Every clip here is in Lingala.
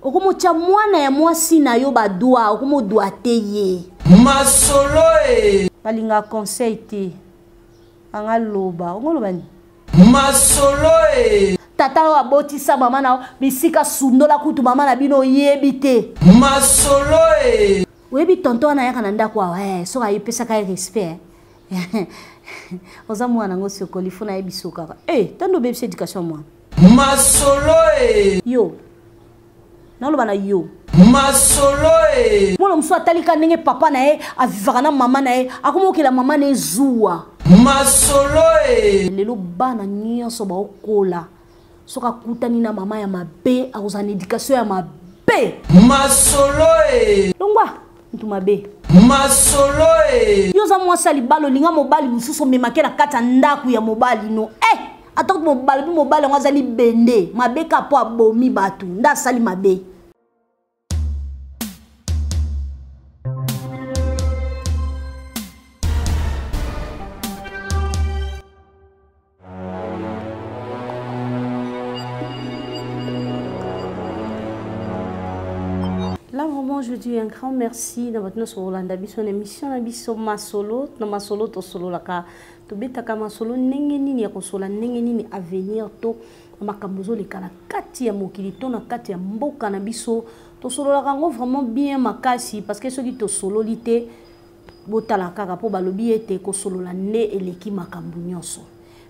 okomotya mwana ya mwasi na yo badwa okomodwa te ye masolo e balinga conseil te anga loba ongoloba nini masolo e tata oyo abotisa mama na bisika sundola kutu mama na bino oyebi te masolo e oyebi tonto wana ayaka na ndako awa eh, soki ayepesaka ye respect eh. oza mwana yango sokoli fo nayebi sokaka e eh, tando obebisa education mwana masolo e yo naloba na yo masolo e mwana mosusu atalika ndenge papa na ye avivaka na mama na ye akomi okela mama na ye zuwa masolo e lelo bana nyonso baokola soki akutani na mama ya mabe akozala na edikatio ya mabe masolo e longwa motu mabe masolo e yo oza mwasi ya libala olinga mobali mosusu omemake na kati ya ndako ya mobali no e eh! ata kutu mobali mpe mobali yango azali bende mabe kaka mpo abomi bato nde asali mabe je dis un grand merci na bato nyonso kolanda biso na émission na biso masolo na masolo tosololaka tobetaka masolo ndenge nini ya kosola ndenge nini avenir to makambo ezoleka na kati ya mokili to na kati ya mboka na biso tosololaka yango vraiment bien makasi parce que soki tosololi te botala kaka mpo balobi ete kosolola nde eleki makambo nyonso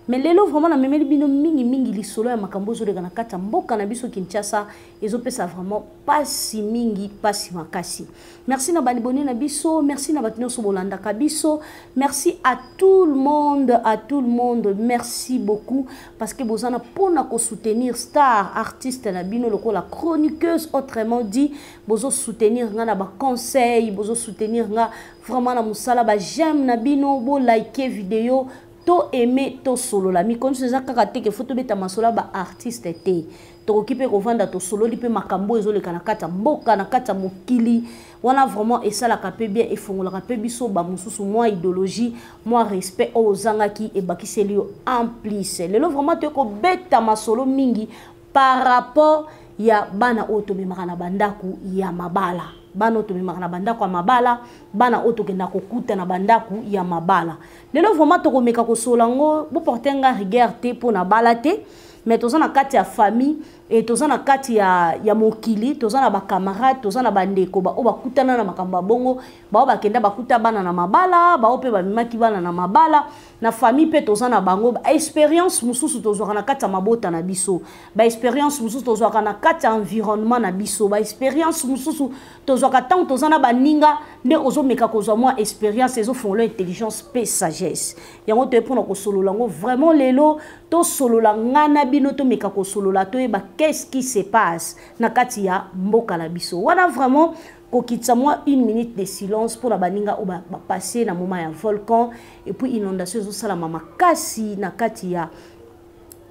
me lelo vraiment namemeli bino mingimingi lisolo ya makambo ezoleka na kati ya mboka na biso kinshasa ezopesa vraiment pasi mingi pasi makasi merci na balibone na biso merci na bato nyonso bolandaka biso merci à tout le monde à tout le monde merci beaucoup parce que boza na mpona kosoutenir star artiste na bino lokola chroniqueuse autrement dit bozo soutenir nga na baconseil bozo soutenir nga vraiment na mosala ba j'aime na bino bo like video to aime tosolola mikondiso eza kaka te ke fo tobeta masolo ya baartiste te tokoki mpe kovanda tosololi mpe makambo oyo ezoleka na kati ya mboka na kati ya mokili wana vraiment esalaka mpe bien efongolaka mpe biso bamosusu mwa idéologie mwa respect oyo ozangaki ebakiseli yo en plus lelo vraiment toye kobeta masolo mingi par rapport ya bana oyo tomemaka na bandako ya mabala bana oyo tomemaka na bandako ya mabala bana oyo tokenda kokuta na bandako ya mabala lelo vraiment tokomeka kosolola yango boporte nga rigueur te mpo na bala te mais toza na kati ya famille et toza na kati ya, ya mokili toza na bacamarade toza na bandeko baoyo bakutana na makambo ya bongo bao bakenda bakuta bana na mabala bao mpe bamemaki bana na mabala na famille mpe toza na bango baexperience mosusu tozwaka na kati ya mabota na biso baexperience mosusu tozwaka na kati ya environnement na biso baexperience mosusu tozwaka ntango toza na baninga nde ozomeka kozwa mwa experience ezofongola intelligence mpe sagesse yango toye mpona kosolola yango vraiment lelo tosolola nga na bino tomeka kosolola toyeba qu'est-ce qui se passe na kati ya mboka na biso wana vraiment kokitisa mwa une minute de silence mpo na baninga oyo bapasse na moment ya volcan epuis inondation ezosalama makasi na kati ya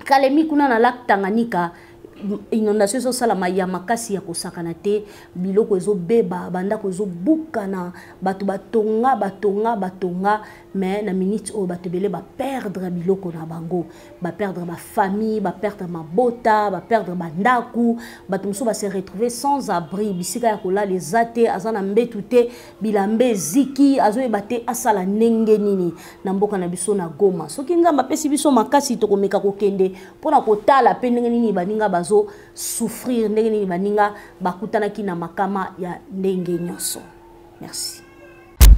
kalemi kuna na lac tanganyika inondation ezosalama ya makasi ya kosakana te biloko ezobeba bandako ezobukana bato batonga batonga batonga mais na minute oyo bato ebele baperdre biloko na bango baperdre bafamille baperdre mabota baperdre bandako bato mosusu base retrouve sans abri bisika ya kolala eza te aza na mbetu te bilamba eziki azoyeba te asala ndenge nini na mboka na biso na goma soki nzambe apesi biso makasi tokomeka kokende mpo na kotala mpe ndenge nini baninga bazo souffrir ndenge nini baninga bakutanaki na makama ya ndenge nyonso merci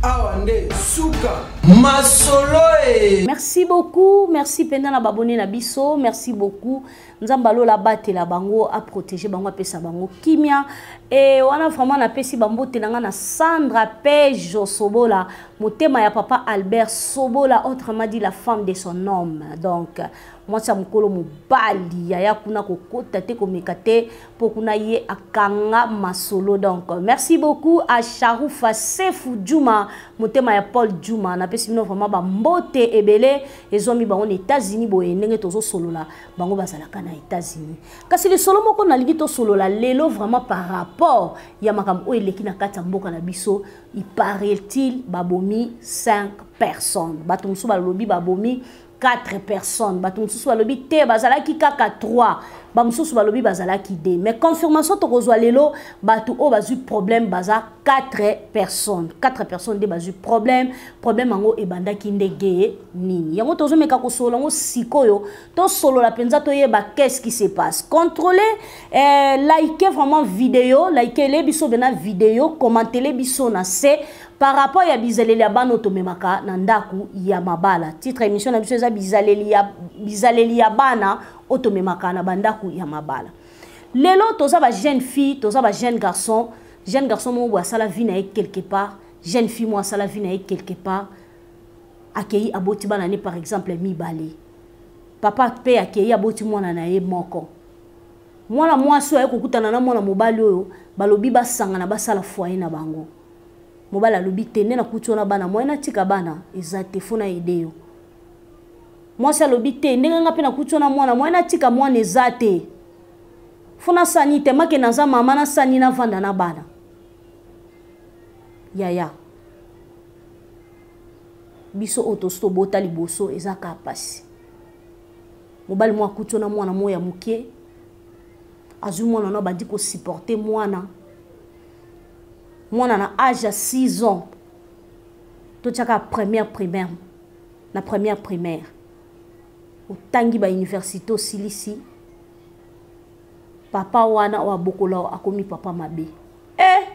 awa nde suka masolo e merci beaucoup merci mpenza na babone na biso merci beaucoup nzambe alola abatela bango aprotege bango apesa bango kimia e wana vraiment napesi bambote na ngai na sandra pejo sobola motema ya papa albert sobola autrement dit la femme de son homme donc mwasi ya mokolo mobali yaya kuna kokota te komeka te mpo kuna ye akanga masolo donc merci beaucoup à sharufa sefu juma motema ya paul juma napesi bino vraiment bambote ebele ezwami bango na états-unis boye ndenge tozosolola bango bazalaka na états-unis kasi lisolo moko nalingi tosolola lelo vraiment par rapport ya makambo oyo eleki na kati ya mboka na biso il paraît-il babomi 5 personnes bato mosusu balobi babomi 4 personnes bato mosusu balobi te bazalaki kaka 3 bamosusu balobi bazalaki 2 mais confirmation tokozwa lelo bato oyo bazwi problème baza 4 personnes 4 personnes nde bazwi problème problème yango ebandaki ndege nini yango tozomeka kosolola yango sikoyo tosolola mpenza toyeba qu'est-ce qui se passe contrôle eh, like vraiment video likele biso bena video commentele biso na se par rapport ya bizaleli ya bana tomemaka na ndako ya mabala titre émission na biso eza bizaleli ya, bizaleli ya bana oyo tomemaka na bandako ya mabala lelo toza ba jeune fille toza ba jeune garçon jeune garçon moko boye asala vie na ye quelque part jeune fille moko asala vie na ye quelque part akei aboti bana ne par exemple mibale papa mpe akei aboti mwana na ye moko mwana mwasi oyo aye kokutana na mwana mobali oyo balobi basangana basala foye na bango mobali alobi te nde nakuti wana bana moye natika bana eza te fo nayede yo mwasi alobi te ndenge nga mpe nakuti wana mwana moye natika mwana eza te fo nasani te make naza mama nasani navanda na bana yaya biso oyo tosi tobota liboso eza kaka mpasi mobali moko akuti wana mwana moko ya moke azwi mwana wana bandi kosupporte mwana mwana na age ya 6 ans totyaka première primaire na première primaire otangi bauniversité osilisi papa wana oyo abokola oyo akomi papa mabe e eh!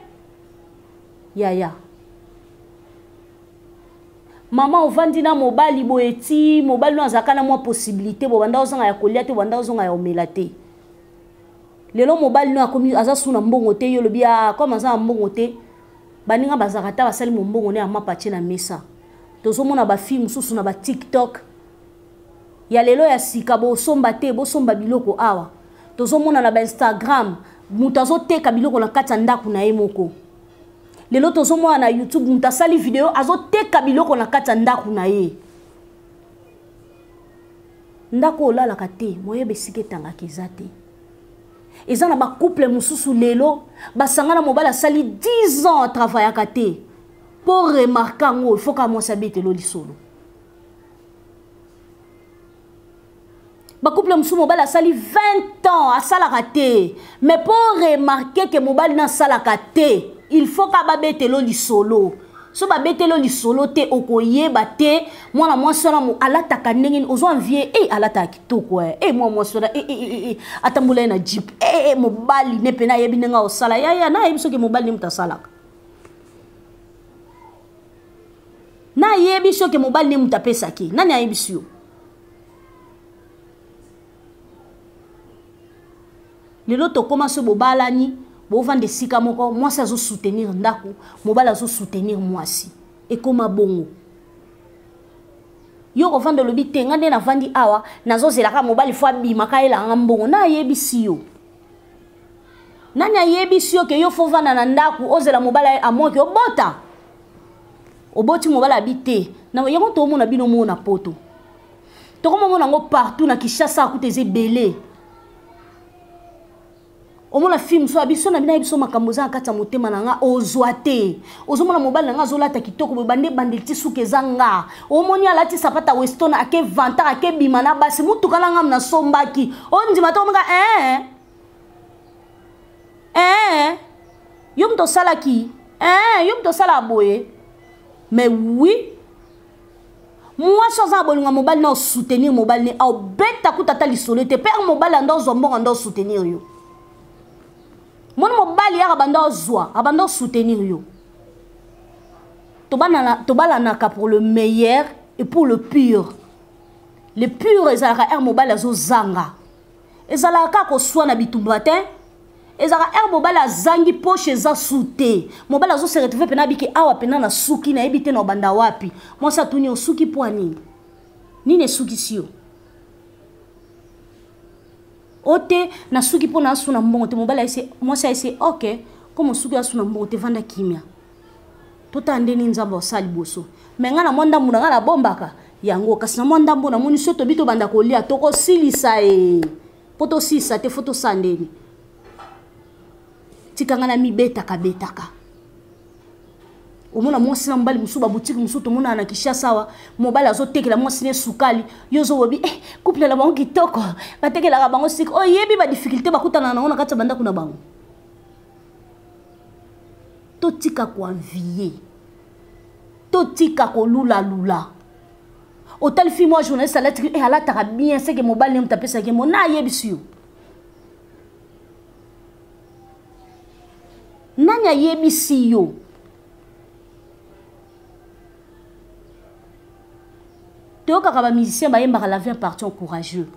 yaya mama ovandi na mobali boye ti mobali oyo azalaka na mwa possibilité bobanda ozanga ya kolia te bobanda ozonga ya omela te lelo mobali no akomi aza su na mbongo te yo lobi ah, comme aza na mbongo te baninga bazalaka ata basali mombongo ne ya mapa tie na mesa tozomona bafille mosusu na batiktok ya lelo ya sika bosomba te bosomba biloko awa tozomona na bainstagram moto azoteka biloko na kati ya ndako na ye moko lelo tozomona na youtube moto asali video azoteka biloko na kati ya ndako na ye ndako olalaka te moyeba esika etangaka eza te eza na bacouple mosusu lelo basanga na mobali asali 10 ans atravayaka te mpo remarke yango ifoka mwasi abetelo lisolo bacouple mosusu mobali asali 20 ans asalaka te mais mpo remarke ke mobali na asalaka te il faut ka babetelo lisolo so babetelo lisolo te okoyeba te mwana mwasi wana alataka ndenge nini ozwa vie e eh, alataka kitoko e eh. eh, mwana mwasi wana e atambola ye na jip e mobali ne mpe nayebi ndenge akosala yaya nayebi soki mobali ne moto asalaka nayebi soki mobali ne moto apesaki nani ayebisi yo lelo tokóma so bobalani bovanda esika moko mwasi azosoutenir ndako mobali azosoutenir mwasi ekóma bongo yo kovanda olobi te nga nde navandi awa nazozelaka mobali fo abima kayelanga mbongo na ayebisi yo nani ayebisi yo ke yo fo vanda na ndako ozela mobali amoki obota oboti mobali abi te yango toomona bino moo na poto tokomomona yango partout na kinshasa akuta eza ebele omona film so biso na bino biso makambo eza na kati ya motema na nga ozwa te ozomona mobali na nga azolata kitoko boye bande ebandeli ti suka eza nga omoni alati sapata weston ake vantar ake bima na basi motuka na ngam nasombaki ondima te omika ee ee yo moto osalaki ee yo moto osalaka boye mais oui mwasi aza na bolingo ya mobali na osoutenir mobali ne aobeta kuta ata lisolo ete pere mobali anda ozwa mbongo anda osoutenir yo moni mobali yaka banda ozwa abanda osoutenir yo tobalanaka pour le meilleur et pour le pure le pure ezalaka ere mobali azozanga ezalaka kaka koswa na bitumba te ezalaka ere mobali azangi poche eza su te mobali azose retrouve mpena abiki awa mpena na suki nayebi te na obanda wapi mwasi atuni osuki mpo nini nini esukisi yo o te nasuki mpo na asu na mbongo te mobali mwasi ayese ok komo osuki asu na mbongo te vanda kimia totala nde nini nzambe asala liboso me ngai na mwa ndambo na ngai nabombaka yango kasi na mwa ndambo namoni so tobi tobanda kolia tokosilisa e mpo tosilisa te fo tosala ndeni tika ngai namibetaka betaka omona mwasi na mobali mosusu babutiki mosusu tomonana na kinshasa awa mobali azotekela mwasi ne sukali yo ozolobi eh, couple na bango kitoko batekelaka bango sika oyebi badifficulté bakutana na yango na kati ya bandako na bango totika koanvie totika kolulalula otali fi mwa journaliste alatiki e eh, alataka bien seke mobali ne moto apesaki mo na ayebisi yo nani ayebisi yo toyokaka bamusicien bayembaka la vie partion courageux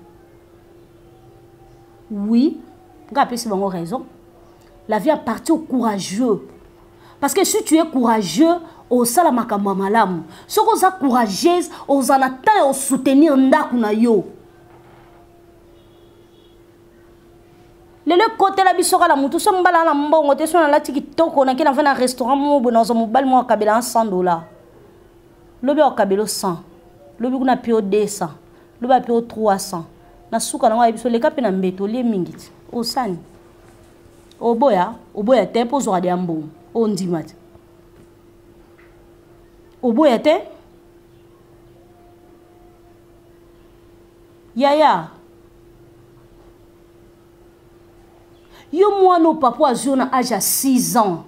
oui nga apesi bango raison la vie appartient au courageux parce que si tu es courageux osala makambo ya malamu soki oza courageuse ozala temps ya osoutenir ndako na yo lelo ekotela biso kala motu so mobala na mbongo te so nalati kitoko nake na va na restaurant moko boye nazwa mobali moko akabela na 100 dollar lobi akabelo 100 lobi kuna pio 200 loba mpe o 300 na suka nango ayebi so leka mpe na mbeto olie mingi ti osani oboya oboya te mpo ozwaka deya mbongo ondima te oboya te yaya yo mwana o papa azwi yo na age ya 6 ans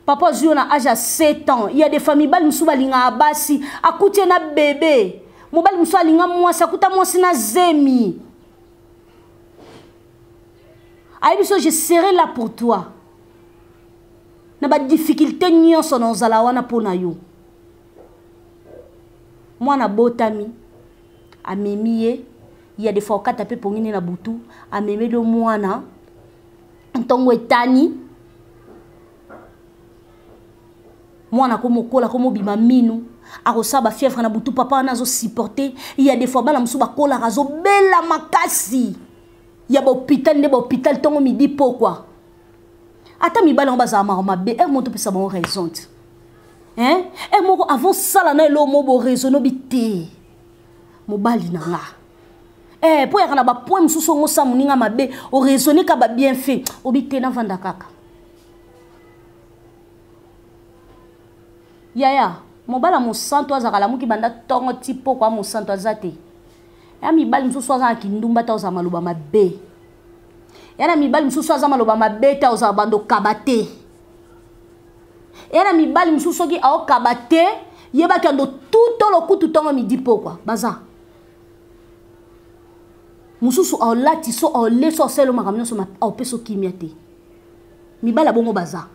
papa ozwi yo na age ya 7 ans ya de famille bali mosusu balingaka basi akuti ye na bebe mobali mosusu alinga mwasi akuta mwasi na zemi ayebi so je serai là pour toi na badifficulté nyonso na ozala wana mpo na yo mwana abotami amemi ye ya defa okata mpe pongini na butu amemeli yo mwana ntongo etani mwana komokola komobima minu akosala bafièvre na butu papa wana azosupporte ya defoi bana mosusu bakolaka azobela makasi ya bahôpital nde bahôpital ntongo midi pokwa ata mibali yango bazala maka mabe e moto opesa bango raison te e moko avant sala na eloo mo boraisonno bi te mobali na nga eh po yaka na ba point mususu ongo sa muninga mabe o raisonner ka ba bien fait obi te na vanda kaka yaya mobala mosantu azalaka lamuki banda ntongo ti poko ya mosantu aza te ya mibali mosusu aza na kindumba ta ozala maloba mabe ya na mibali mosusu aza maloba mabe ta ozala bando kaba te ya na mibali mosusu soki aokaba te yebaki yando tuto lokutu ntongo midi pokwa baza mosusu olati so ole so osali yo makambo nyonso opesa okimia te mibala bongo baza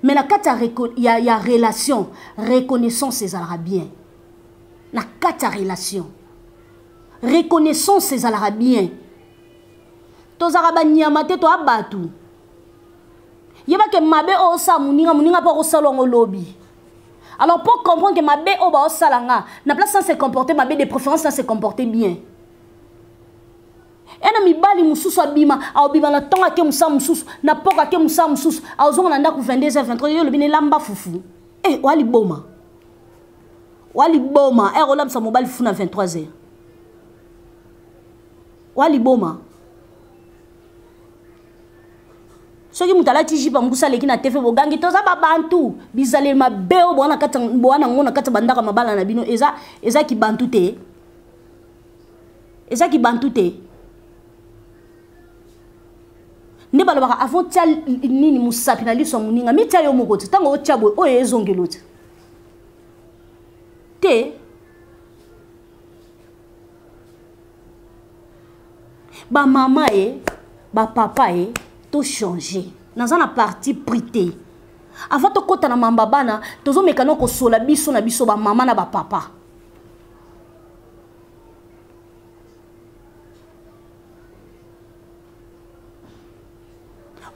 me na kati ya, ya, ya relation reconnaissance ezalaka bien na kati ya relation reconnaissance ezalaka bien tozalaka banyama te toya bato yebake mabe oyo osala moninga moninga mpe akosala yango lobi alors pour comprendre que mabe oyo baosala nga na place na se comporter mabe de préférence na se comporter bien ena mibali mosusu abima aobima na ntongo ake mosala mosusu na poko ake mosala mosusu aozonga na ndako 22 h 23 yo olobi na elamba fufu e eh, oya liboma oya liboma ere eh, olambisa mobali fufu na 23 h oya liboma soki moto alati jipe ya mbusa aleki na te mpe bogangi toza babantu bizaleli mabe oyo bowana yango na kati ya bandako ya mabala na bino eza, eza kibantu te eza kibantu te nde balobaka avant tia nini mosapi na liso ya moninga mitia yo moko te ntango otia boye oyo ezongelo te te ba mama ye eh, ba papa ye eh, to changer naza na parti pris te avant tokɔta na mamba bana tozomeka na kosola biso na biso bamama na bapapa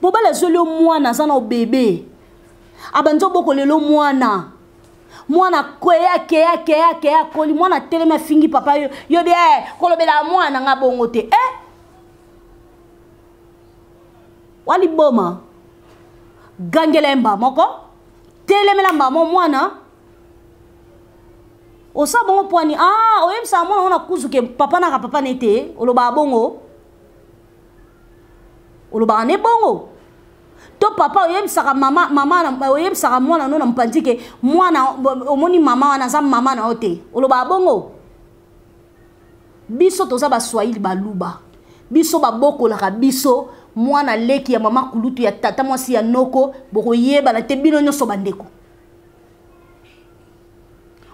mobali azweli yo mwana aza na obebe abandi obokola elo mwana mwana kweya keya keya keya akoli mwana atelemi afingi papa yo yo bi eh, kolobela mwana nga bongo te eh? waliboma gangela ye mbaa moko telemela mbaa mo mwana osala bongo pwani ah oyebisaka mwana ngo na kuzuke papa naka papa na ye te olobaka bongo olobaka nde bongo to papa oyebisaka mama mama oyebisaka mwana no na mopanzi ke mwana omoni mama wana aza mama na yo te olobaka bongo biso toza baswahili baluba biso babokolaka biso mwana leki ya mama kulutu ya tata mwasi ya noko bokoyebana te bino nyonso bandeko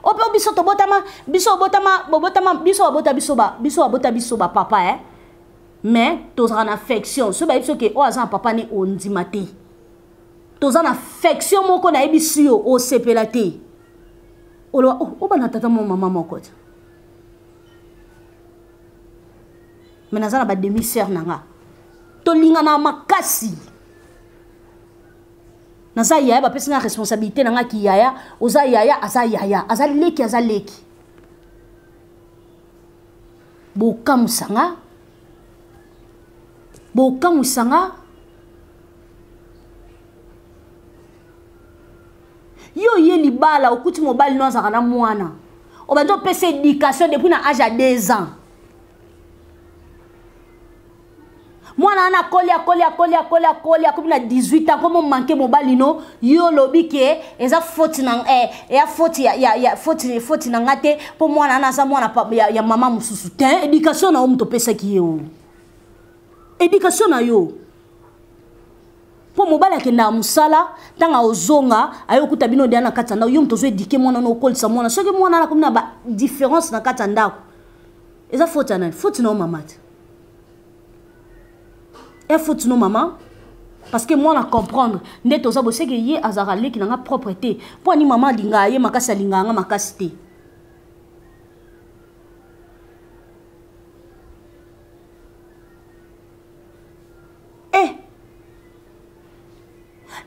ope oh, biso tobotama biso obotama bobotama biso babota biso ba biso babota biso ba papa eh? mais tozala na affection soki bayebi soki oyo oh, aza na papa ne ondima oh, te toza na affection moko nayebisi yo osepela te oloba oh, oba na tata moko mama moko te me naza na bademi sere na nga tolingana makasi naza yaya bapesi nga responsabilité na nga kiyaya oza yaya aza yaya aza leki aza leki bokamwisa nga bokamwisa nga yo oye libala okuti mobali no azalaka na mwana obandi opesa éducation depuis na age ya 2 ans mwana wana akoli akoli akoli akoli akoli akomi na 18 ans komo manke mobali no yo olobi ke eza foti na eh, ya foti ya, ya, ya foti, foti na nga te mpo mwana wana aza mwana ya, ya mama mosusu te éducation na yo moto opesaki ye o éducation na yo mpo mobali akendaka mosala ntango aozonga aye okuta bino deya na kati ya ndako yo moto ozo edike mwana no okolisa mwana soki mwana wana akomi na ba différence na kati ya ndako eza faute ya nani faute na yo mama te e faute no mama parce que mwana comprendre nde toza boseke ye azalaka leki na nga propre te mpo ani mama alingaka ye makasi alingaka nga makasi te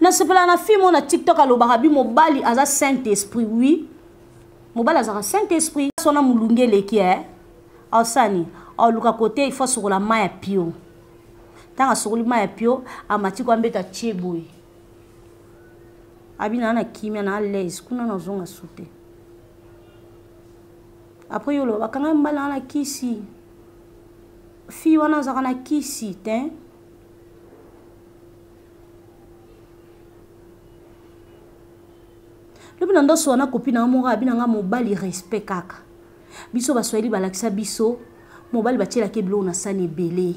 nasepela na fille moko na tiktok alobaka bi mobali aza saint esprit oui mobali azalaka saint esprit sona molunge eleki e osani oluka kote ifo asokola mai ya pio ntango asokoli mai ya pio amati kwa mbeta tie boye abina na kimia na alaise kuna nazonga su te apres yo oloba bakanga mbala wana kisi fille wana azalaka na kisi te lobi na ndoso wana kopi na yo moko abi na nga mobali respect kaka biso baswahili balakisa biso mobali batielaka biloko na sani ebele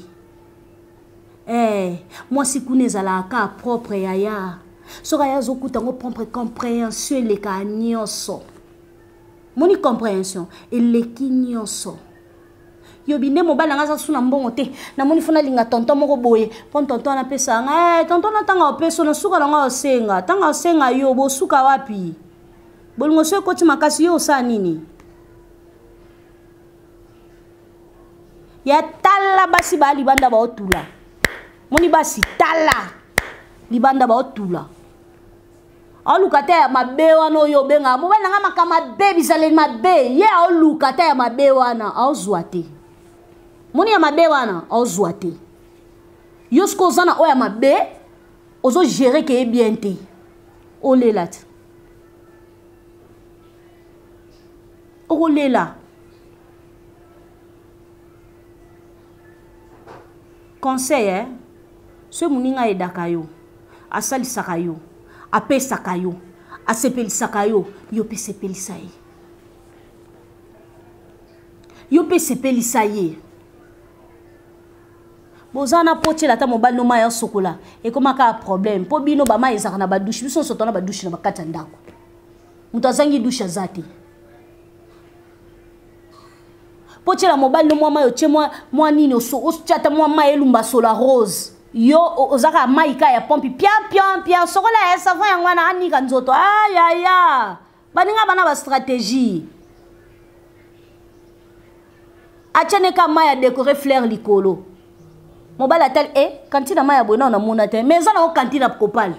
hey, eh, mwasi kuna ezalaka kaka propre yaya soki aya azokuta yango propre comprehension eleka nyonso moni comprehension eleki nyonso yobi nde mobali nanga aza su na mbongo te namoni fo nalinga tonton moko boye mpo tonton wana apesaka nga hey, eh, tonton na ntanga opeso na suka nanga osenga ntanga osenga yo bosuka wapi bolingo so ekoti makasi yo osala nini ya tala basi baya libanda baotula moni basi tala libanda baotula aoluka ata ya mabe wana oyo obengaka mobali na ngai makambo mabe bizaleli mabe ye aoluka ata ya mabe wana aozwa te moni ya mabe wana aozwa te yo soki oza na oyo ya mabe ozogere keye bien te olela te okolela conseil eh? soki moninga ayedaka yo asalisaka yo apesaka yo asepelisaka yo yo mpe sepelisa ye yo mpe sepelisa ye boza na mpo otyela ata mobali no mai asokola ekomaka problème mpo bino bamai ezalaka na badushe biso nyonso tona badushe na bakati ya ndako moto azangi dushe aza te mpo tyela mobali no mwa mai otye mwa nini otya ata mwa mai elumba sola rose yo oza kaka mai kaka ya pompi pian pian pian sokola ya savon yango wana anika nzoto ayaya baninga bana bastratégie atya ne ka mai ya décore fleur likolo mobali atali e eh, kantina mai ya boye nao namona te mais eza nango kantina kopale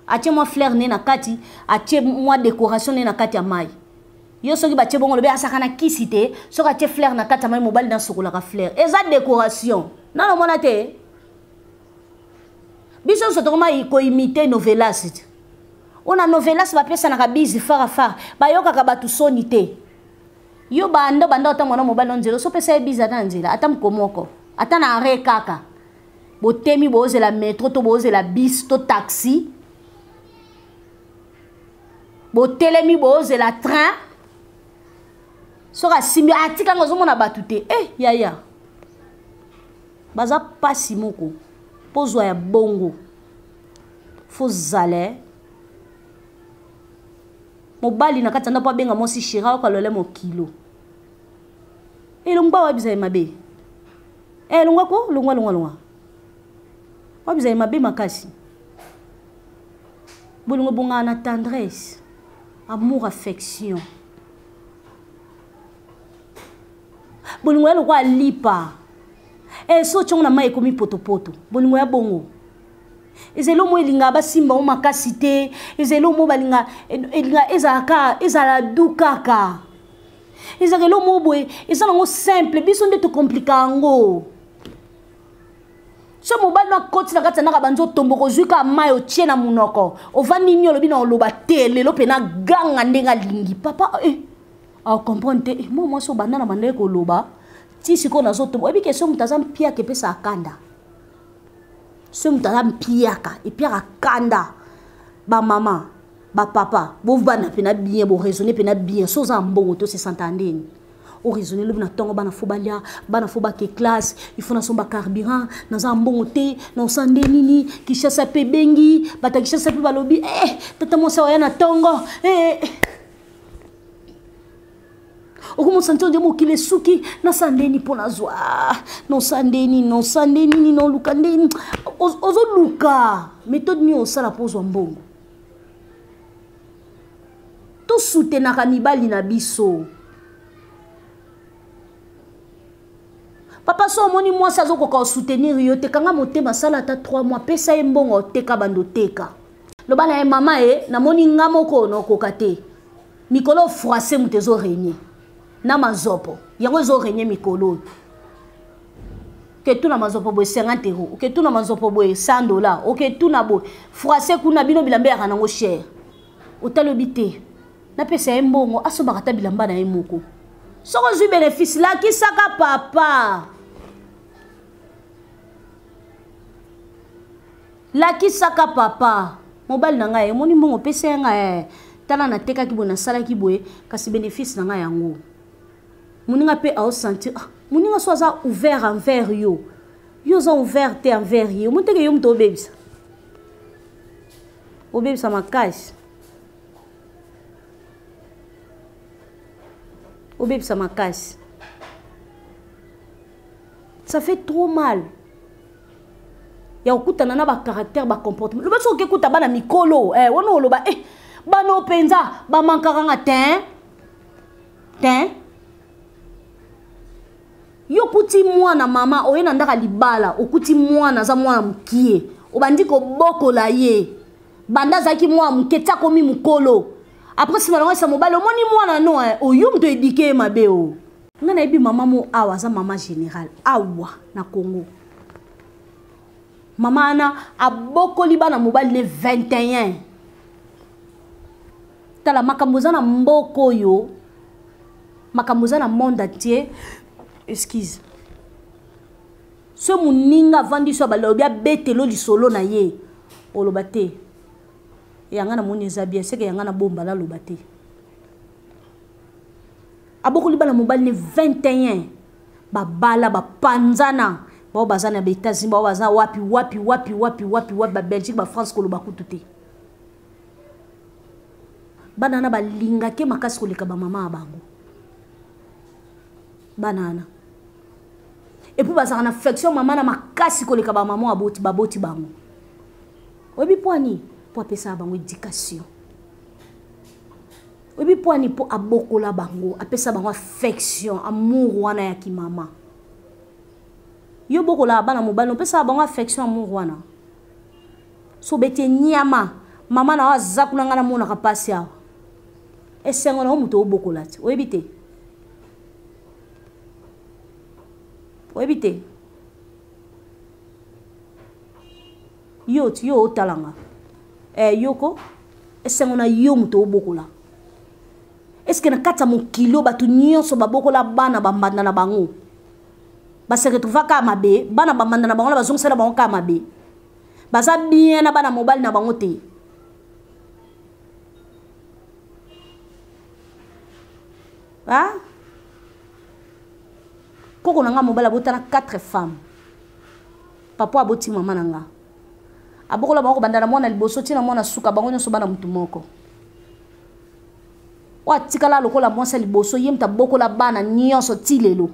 atye mwa fleur ne na kati atye mwa décoration ne na kati ya mai yo soki batie bongo olobi asaka na kisi te soki atie flaire na kati ya mai mobali nasokolaka flaire eza décoration nano omona te biso nyonso tokoma koimite novelas te oyo na novelas bapesanaka bizi farafara bayokaka bato soni te yo banda banda ata mwana mobali na nzela osopesa ye bizi ata na nzela ata moko moko ata na arre kaka botemi boozela metro to boozela bis to taxi botelemi boozela train soki asimbi atikanga ah, ozomona bato te e eh, yaya baza mpasi moko mpo zwa ya bongo fozala eh. mobali na kati ya ndako abenga mwasi shira oyoka lole mokilo elongba wayebisa ye mabe elongwa eh, ko longwa longwa longwa wayebisa ye mabe makasi bolingo ebongaka na tendresse amour affection bolingo ya lokola lipa e so otyongo na mai ekomi potopoto bolingo ya bongo ezali omo elingaka basimba o makasi te ezali omo balinga elinga ezalaka ezala du kaka ezalaka elo mo boye eza nango simple biso nde tokomplika yango so mobali no akoti na kati ya ndako abandi otombo kozwi kaka mai otie na monoko ovandi nini olobi na oloba te lelo mpe naganga ndenge alingi papa eh, akomprendre te eh, mwa mwasi obanda na bandaki koloba ti sikoyo nazotombo oyebi ke so moto aza mpiaka epesa akanda so moto aza mpiaka epiaka kanda bamama bapapa bovanda mpe na bien boraisonne mpe na bien so oza na mbongo to se santa ndeni oraisonne lobi na ntongo bana fo balia bana fo bake classe ifo nasomba carburant naza na mbongo te naosa nde nini kishasa mpe ebengi bato ya kishasa mpe balobi e eh, tata mwasi awaya na ntongo e eh, eh, okomosa ntongo nde mokili esuki nasa nde nini mpo nazwa nosa nde nini nosa nde nini noluka nde nini ozoluka metode nini osala mpo ozwa mbongo tosutenaka mibali na biso papa so omoni mwasi azokoka osoutenir yo te kanga motema asala ata 3 mois pesa ye mbongo oteka bando teka loba na ye mama ye namoni nga moko naokoka te mikolo froise moto ezorenye na mazopo yango ezorenye mikolo oyo oketuna manzopo boye 50 euro oketuna manzopo boye 100 dollar oketuna boye français kuna bino bilamba eyaka nango cher otalobi te napesa ye mbongo asombaka ata bilamba na ye moko soki ozwi benefice lakisaka papa lakisaka papa mobali na ngai emoni mbongo opesa ya ngai eh, tala natekaki boye nasalaki boye kasi benefice na ngai yango moninga mpe aosentir ah, moninga so aza ouvert envers yo yo oza ouvert te envers ye omoteke yo moto obebisa obebisa makasi obebisa makasi ça fait trop mal ya kokutana na bacaractère bacomportement loba soki okekuta bana mikolo eh, wana oloba eh, bano mpenza bamankaka nga te te yo okuti mwana mama oye na ndaka libala okuti mwana aza mwana mokie obandi kobokola ye banda azalaki mwana moke ti akomi mokolo apres nsima nango esa mobali omoni mwana no eh, oyo moto edike ye mabe o oh. ngai nayebi mama mo awa aza mama général awa na congo mama wana abokoli bana mobali ne 21 tala makambo eza na mboka oyo makambo eza na monde entier excuse so moninga avandi so balobi abetelo lisolo na ye oloba te yanga namoni eza bien seke yanga nabomba naloba te abokoli bana mobali ne 21 babala bapanzana bao baza na baetats-unis bao baza wapi wapi wapi wapi wapi wapi babelgique bafrance koloba kutu te bana wana balingaki makasi koleka bamama ya bango bana wana epuis bazalaka na affection mama na makasi koleka bamama baboti baboti bango oyebi mpo ani mpo apesaka bango éducation oyebi mpo ani mpo abokola bango apesa bango affection amour wana ya kimama yo bokolaka bana mobali opesaka bango affection amour wana so beti enyama mama na yo aza kuna ngai namonaka mpasi awa esengo na yo moto obokola te oyebi te oyebi te yo ti yo otalanga eh, yoko esengo na yo moto obokola eske na kati ya mokili oyo bato nyonso babokola bana bambanda na bango baseretrouvaka mabe bana bambanda na bango na bazongisela bango kaka mabe baza bien na bana mobali na bango te ha koko na nga mobali abotana 4 femme papa aboti mama na nga abokola bango kobanda na mwana liboso ntina mwana suka bango nyonso bana motu moko oyo atikala lokola mwasi ya liboso ye moto abokola bana nyonso ti lelo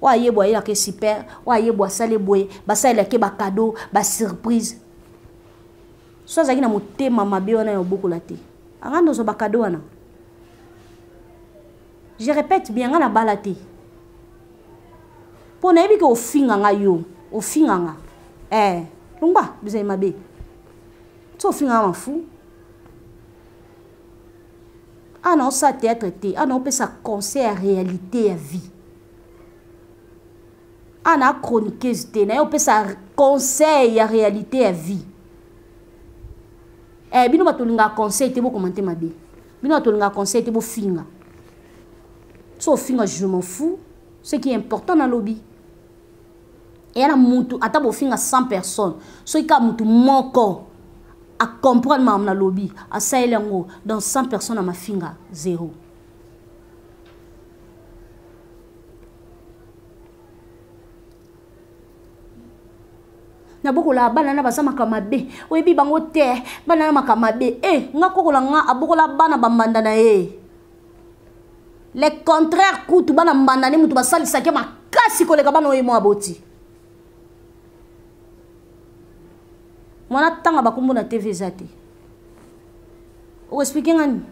oyo ayebwa ayelake super oyo ayebwa asale boye basalelake bakado basurprise so azalaki na motema mabe wana ya obokola te anga nde ozwa bakado wana je répète bien nga nabala te mpo nayebi ke ofinga nga yo ofinga nga eh, longwa bizali mabe so ofinga nga mafu awa naosala théâtre te awa naopesa conseil ya réalité ya vie awa naa chroniqueuse te naye opesa conseil ya réalité ya vie eh, bino bato olingaka conseil te bokomante mabe bino bato olingaka conseil te bofinga so ofinga je m'en fou ce qui est important nalobi eya na mutu ata bofinga 100 personnes soki kaka mutu moko acomprendre makambo nalobi asaleli yango dans 100 personnes ya mafinga zero nabokola bana na baza makambo mabe oyebi bango te bana na makambo mabe e eh, nga kokola nga abokola bana bambanda na ye le contraire kutu bana mbanda nde moto basalisaki makasi koleka bana oyo mwa aboti mwana tanga bakombo na tv eza te okoexplike nga nini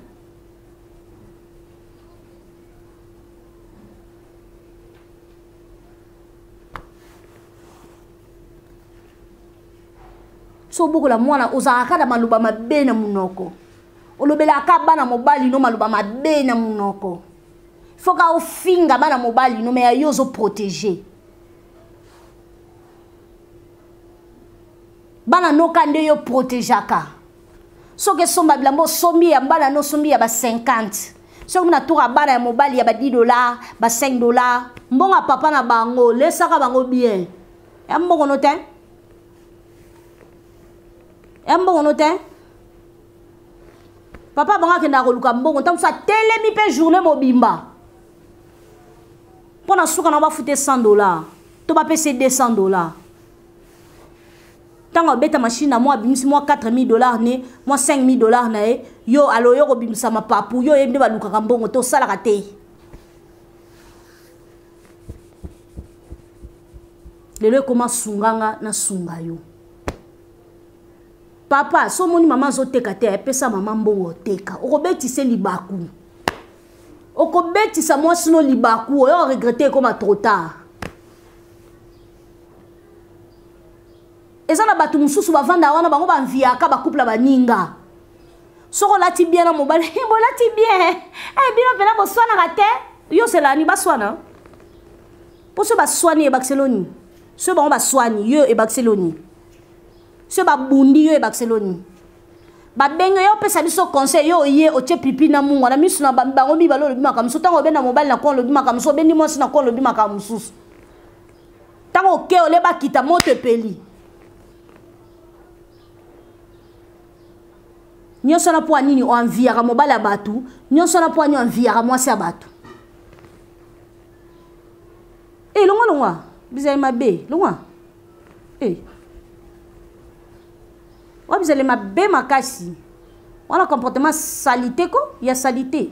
so obokola mwana ozalaka na maloba mabe na monoko olobelaka ka bana mobali no maloba mabe na monoko foka ofinga bana mobali no me ya yo ozoprotege bana noka nde yo protegeaka soki esomba bilamba osombi ya bana no osombi ya ba 50 soki muna toka bana ya mobali ya ba 10 dollars ba 5 dollars mbongo ya papa na bango lesaka bango bien ya mbongo no te ya mbongo no te papa bango akendaka koluka mbongo ntango mosusu atelemi mpe journée mobimba mpo na suka na bafute 100 dollar to bapesi 200 dollar ntango abeta mashine na mwa abimisi mwa 4000 dollar ne mwa 5000 dollar na ye yo alo yo kobimisa mapapu yo oyebi nde balukaka mbongo te osalaka te lelo ekoma sunga nga nasunga yo papa so omoni mama azoteka te epesa mama mbongo oteka okobetise libaku okobetisa mwasi no libaku oyo oregrete ekoma trop tard eza na bato mosusu bavanda wana bango banviaka bakuple baninga soki olati bien na mobali eh, bolati bien eh, bino mpena boswanaka te yo selani baswana mpo so baswani ebakiselo nini so bango baswani yo ebakiselo nini so babundi yo ebakiselo nini babenge yo opesa biso conseil yo oye otye pipi na mungu na miso na bango mibale olobi makambo mosusu ntango obenda mobali na kona olobi makambo mosusu obendi mwasi na kona olobi makambo mosusu ntango oke ole bakita moto epeli nyonso wana mpo ya nini oanviyaka mobali ya bato nyonso wana mpo ya nini oanviyaka mwasi ya bato e eh, longwa longwa bizali mabe longwa e eh. oyo bizali mabe makasi wana comportement salite ko ya salite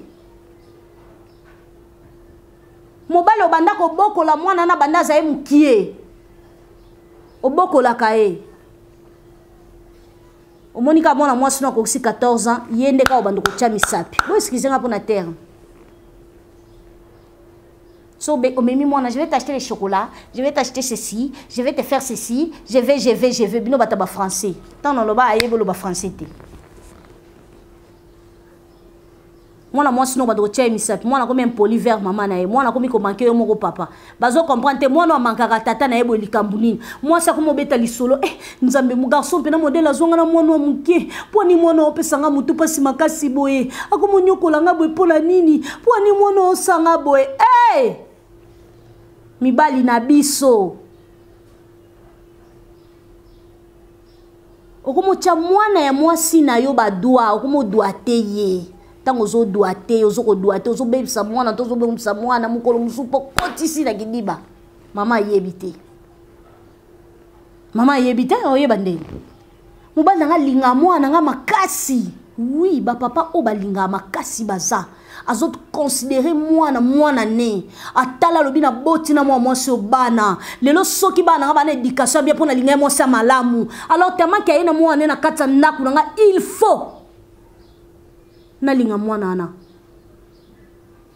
mobali obanda kobokola mwana na banda azali mokie obokolaka ye omoni kaka mwana mwasi no akokisi 14 ans ye nde kaka obanda kotya misapi bo excuse nga mpo na terre so omemi mwana je vais t'acheter les chocolats je vais t'acheter ceci je vais te faire ceci je vais je vais je vais bino bata bafrançais ntango naloba ayebi oloba français te mwana mwasi noko bato kotya ye misapi mwana akomi impoli vers mama na ye mwana akomi komanke yo moko papa bazo comprendre te mwana amankaka tata na ye boye likambo nini mwasi akomi obeta lisolo eh, nzambe mogarson mpena modele azonga na mwana wa moke mpo ani mwana opesa nga motu mpasi makasi boye akomi onyokola nga boye mpo na nini mpo ani mwana osanga boye hey! Eh! mibali na biso okomotya mwana ya mwasi na yo badwa okomodwate ye ntango ozodwate ye ozokodwate ozobebisa mwana to ozobebisa mwana mokolo mosusu mpo kotisi na kidiba mama ayebi te mama ayebi te oyeba ndenge mobali na ngai alinga mwana ngai makasi wi bapapa oyo balingaka makasi baza azo considérer mwana mwana ne atala lobi na boti na mwa mwasi obana lelo soki bana nga bana éducation bien pona linga mwasi malamu alors tellement que ayena mwana na kati ndaku na nga il faut na linga mwana na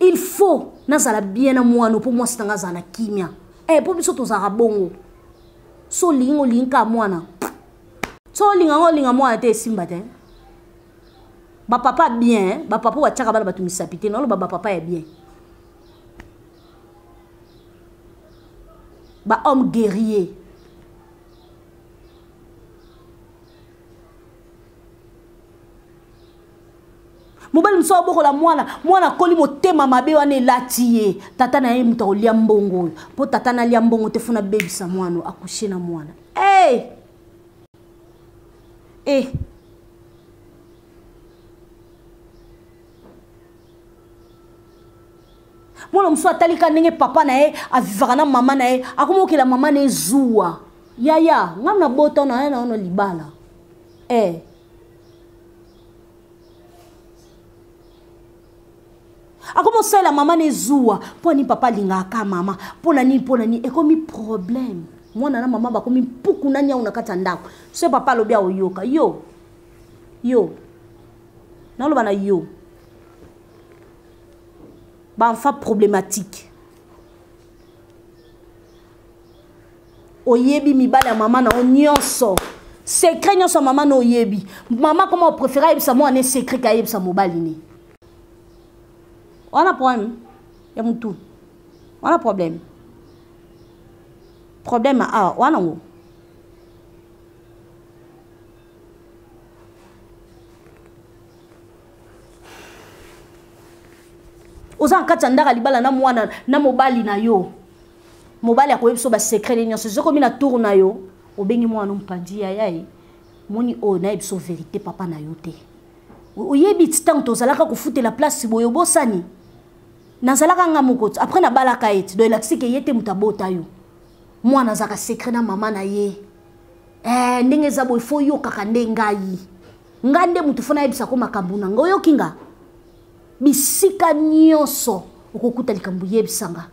il faut nazala bien na mwana po mwasi na nga za na kimia eh po biso tozaka bongo so lingo linka mwana so linga ngo linga mwana te simba te ba papa bien hein? ba papa wa tchaka bana batu misapi te nalo ba ba papa ya bien ba homme guerrier mobali mosusu abokola mwana mwana akoli motema mabe wana elati ye tata na ye moto akolya mbongo oyo mpo tata nalya mbongo te funa bebisa mwana akushe na mwana hey! e eh. mwana mosusu atalika ndenge papa na ye avivaka na mama na ye akomi okela mama na ye zuwa yaya ngai nabota na ye na yono libala e eh. akomi osalela mama na ezuwa mpo nini papa alingaka mama mpo na nini mpo na nini ekomi problème mwana na mama bakomi mpuku na nyau na kati ya ndako so papa alobi aoyoka yo yo naloba na yo baenfant problématique oyebi mibali ya mama na yo nyonso secret nyonso ya mama na oyebi mama koma opréféré ayebisa mwana ne secret ke ayebisa mobali ne wana problème ya motu wana problème problème awa wana ngo oza na kati ya ndaka libala na mwana na mobali na yo mobali akoyebi biso basecret nini nyonso zokomi na tour na yo obengi mwana mpanzi yaya ye moni oyo nayebi biso verité papa na yo te oyebi ti ntango tozalaka kofutela place boye obosani nazalaka nga moko ti après nabalaka ye ti do elakisi ke ye te moto abota yo mwana azalaka secret na mama na ye eh, ndenge eza boye fo oyokaka nde ngai nga nde moto fo nayebisa ko makambo na nga oyoki nga bisika nyonso okokuta likambo yebisa nga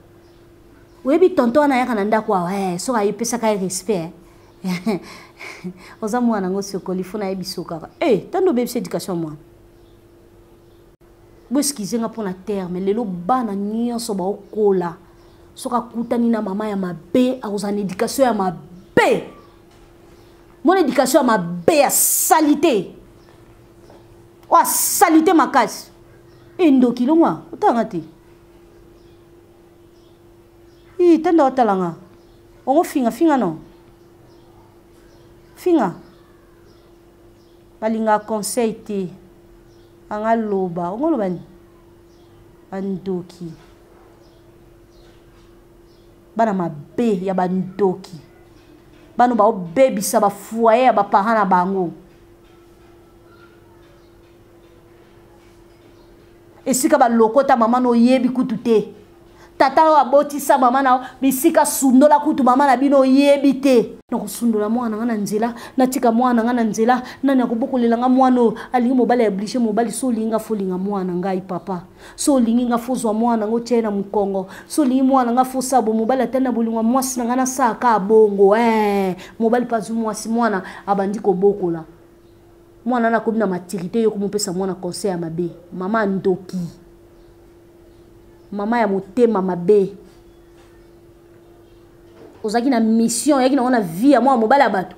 oyebi tonto wana ayaka na ndako awa eh, soki ayepesaka ye respect eh. oza mwana yango sokoli fo nayebi sokaka e eh, tandi obebisa éducation mwana boeskize nga mpo na terme lelo bana nyonso baokola soki akutani na mama ya mabe akozala na éducation ya mabe mona éducation ya mabe ya salite oyo asalite makasi endoki longwa otanga te ii tanda otala nga ongo finga finga no finga balinga conseil te anga loba ongo loba ni bandoki bana mabe ya bandoki bano baobebisa bafoye ya baparent na bango esika balokota mama na oyebi kutu te tata oyo abotisa mama na bisika sundola kutu mama na bino oyebi te nakosundola mwana nanga na nzela natika mwana nanga na nzela nani akobokolela nga mwana oyo alingi mobali ya oblige mobali so olingi nga folinga mwana ngai papa so olingi nga fozwa mwana nanga otia ye na mokongo so olingi mwana nga fosabo mobali atani na bolingo ya mwasi na ngai nasalaka bongo ee eh, mobali mpe azwi mwasi mwana abandi kobokola mwana na akomi na maturité yo komopesa mwana conseil ya mabe mama ya ndoki mama ya motema mabe ozalaki na mission oyaki nango na vie ya mwana mobali ya bato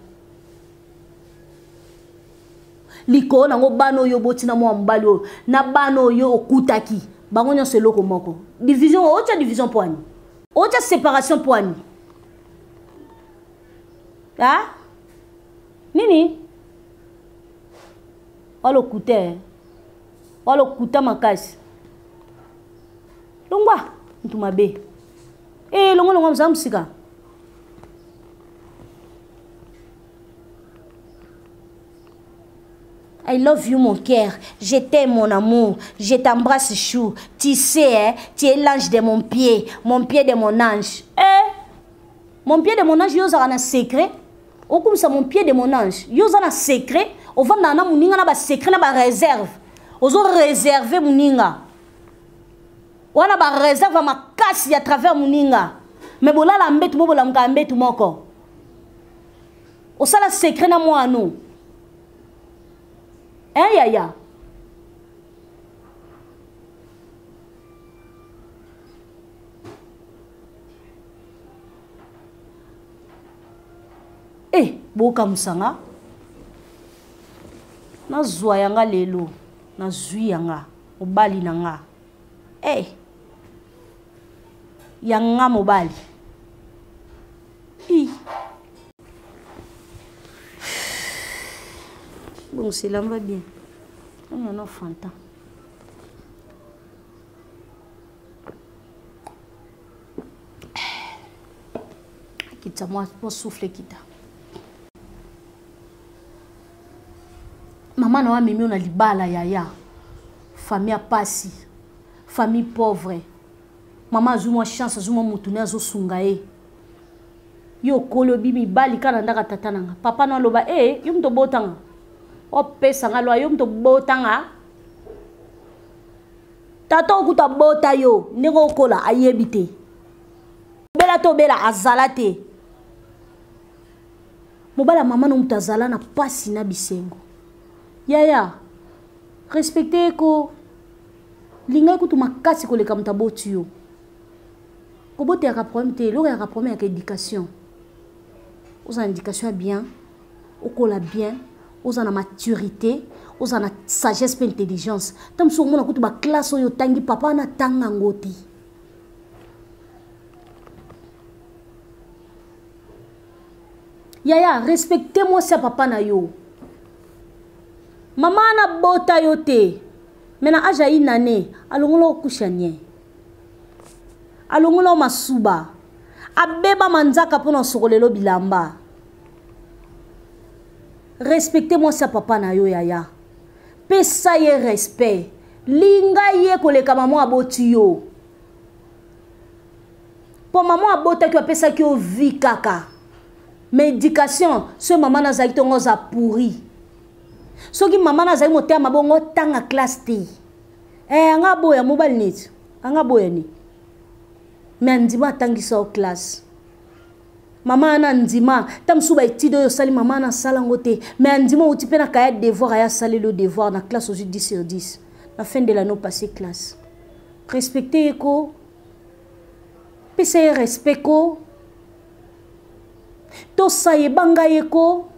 likolo nango bana oyo oboti na mwana mobali oyo na bana oyo okutaki bango nyonso eloko moko division otya division mpo ani otya séparation mpo ani a nini walokuta eh. walokuta makasi longwa mutu mabe e eh, longwa longwa mosala mosika I love you mon cœur, je t'aime mon amour, je t'embrasse chou. Tu sais, hein, tu es l'ange de mon pied, mon pied de mon ange. Eh, mon pied de mon ange, il y a un secret. okumisa mon pied de mon ange yo oza na secret ovandaka na moninga na basecret na bareserve ozo reserve moninga wana bareserve ya makasi ya travers moninga me bolala mbetu mo bolamukaka mbetu moko osala secret na mwano hein eh, yaya e eh, bokamwisa nga nazwa ya nga lelo nazwi ya nga mobali na nga e eh, ya nga mobali i bon selamba bien oyo no fanta akitisa mwa souffle kita mama na yo amemi yo na libala yaya famille ya pasi famille pauvre mama azwi mwa chance azwi mwa motu ne azosunga ye yo okoli obi mibali kaka na ndaka tata na nga papa na aloba e eh, yo moto obotanga opesa nga lwa yo moto obotanga tata oyo kutu abota yo ndenge okola ayebi te obela to obela azala te mobala mama no moto azala na mpasi na bisengo yaya respecte ko lingai kutu makasi koleka moto aboti yo kobota yaka problème te eloko yaka problème yaka éducation ozala na éducation ya bien okola bien oza na maturité oza na sagesse mpe intelligence ntango mosusu okomona kutu baklasse oyo otangi papa wana atanga yango te yaya respecte mwasi ya papa na yo mama wana bota yo te me na age ya inane alongola okusha nie alongola o masuba abeba manzaka mpo na osokolelo bilamba respecte mwasi ya papa na yo yaya pesa ye respect linga ye koleka mama aboti yo mpo mama abotaki apesaki yo vi kaka ma éducation soki mama nazalaki ntongo oza pourri soki mama nazali motema mabongo tanga classe te eh, anga aboya mobali neti anga aboya nini me andima atangisa yo classe mama ana andima ntango mosusu baetide oyo osali mama ana asala yango te mai andima outi mpe na kaya devoir aya asaleli yo devoir na classe ozwi 10 sur 10 na fin de lano passe classe respecte ye ko pesa ye respect ko tosa yebanga ye ko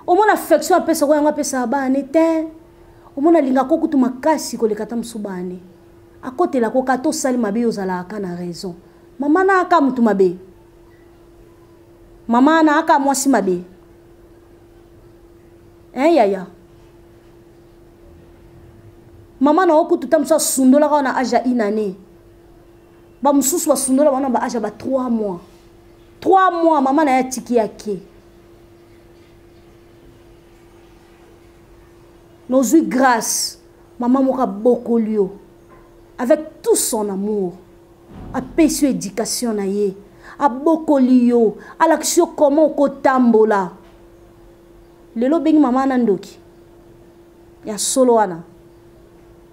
omona affection apesako yango apesaka baane te omona alingaka okutu makasi koleka ata mosusu baane akotela ko kata osali mabe yo ozalaka ka na raison mama na aka motu mabe mama na aka mwasi mabe hein eh, yaya mama na yo kutu ta mosusu asundolaka wana age ya une année bamosusu basundola wana ba age ya ba 3 mois 3 mois mama na ye atiki yake nozwi grâce mama moko abokoli yo avec tout son amour apesi yo éducation na ye abokoli yo alakisi yo comment okotambola lelo obengi mama wana ndoki ya solo wana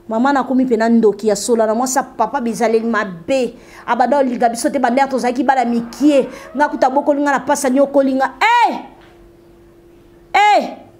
mama nakomi mpe na ndoki ya solo wana mwasi papa bizaleli mabe abanda olinga biso te bandere tozalaki bana mikie nga kuta bokoli nga na pasa niokoli nga e hey! e eh! hey!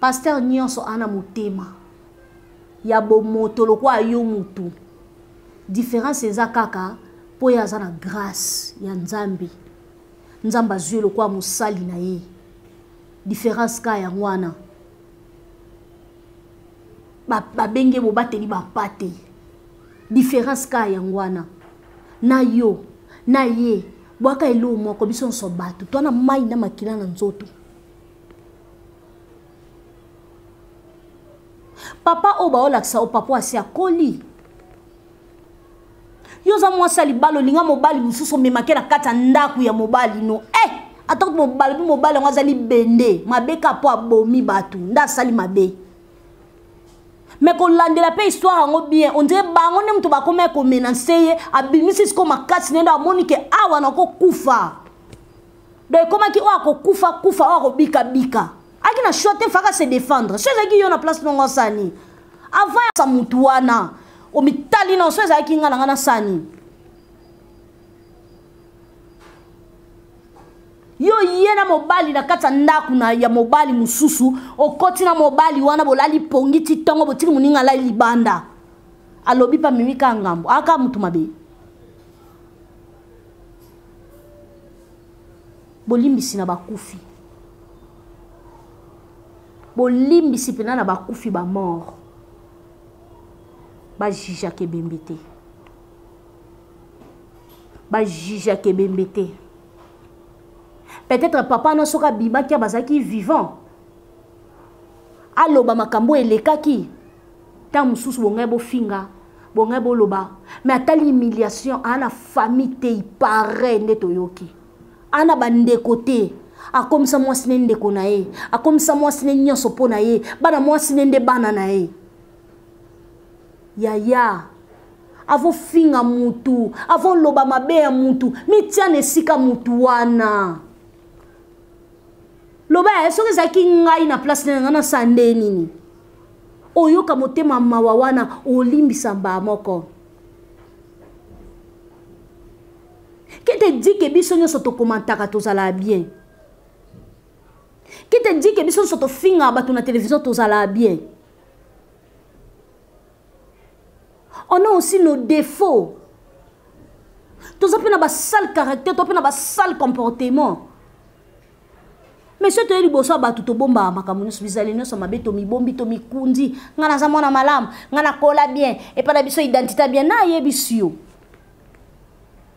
pasteur nyonso ana motema ya bomoto lokola yo mutu différence eza kaka mpo ye aza na grâce ya nzambe nzambe azwi lokola mosali na ye différence ka yango wana babenge ba bobateli bampate différence ka yango wana na yo na ye bwaka eloo moko biso nyonso bato twana mai na makila na nzoto papa oyo baolakisa o papa asi akoli yo oza mwasi ya libala olinga mobali mosusu omemake na kati ya ndako ya mobali no e eh! ata kuti mobali mpe mobali yango azali bende mabe kaka mpo abomi bato nde asali mabe me kolandela mpe histoire yango bien ondire bango nde moto bakomaki komenanse ye abimisi sikoyo makasi nende amoni ke awa nakokufa donc ekomaki oyo akokufa kufa oyo akobika bika aki na choix te faka se défendre so ezalaki yo na place nongo asani avant ya mutu wana omitali na so ezalaki ngai na ngai nasani yo ye na mobali na kati ya ndako na ya mobali mosusu okoti na mobali wana bolali pongi ti ntongo botiki moninga alai libanda alobi mpe amemi kaka ngambo aka motu mabe bolimbisi na bakufi bolimbisi mpena na bakufi bamort bajijaka ebembe te bajijaka ebembe te peut-être papa wana soki abimaki bazalaki vivant aloba makambo elekaki ntango mosusu bongai bofinga bongai boloba me atali humiliation aa na famille te ipareil nde toyoki aa na bandeko te akomisa mwasi ne ndeko na ye akomisa mwasi ne nyonso mpo na ye bana mwasi ne nde bana na ye yaya avofinga mutu avoloba mabe ya mutu mitia na esika mutu wana loba ya soki ezalaki ngai na place na ngai nasala nde nini oyoka motema mawa wana olimbisa mbaa moko kete dike biso nyonso tokomantaka tozalaka bien kete dike biso nyonso tofingaka bato na televizio tozalaka bien on a aussi nos défauts toza mpe na basale caractère toza mpe na basale comportement mais soki toye liboso ya bato tobombaka makambo nyonso bizali nyonso mabe tomibombi tomikundi ngai naza mwana malamu ngai nakola bien epai na biso identité bien nayebisi yo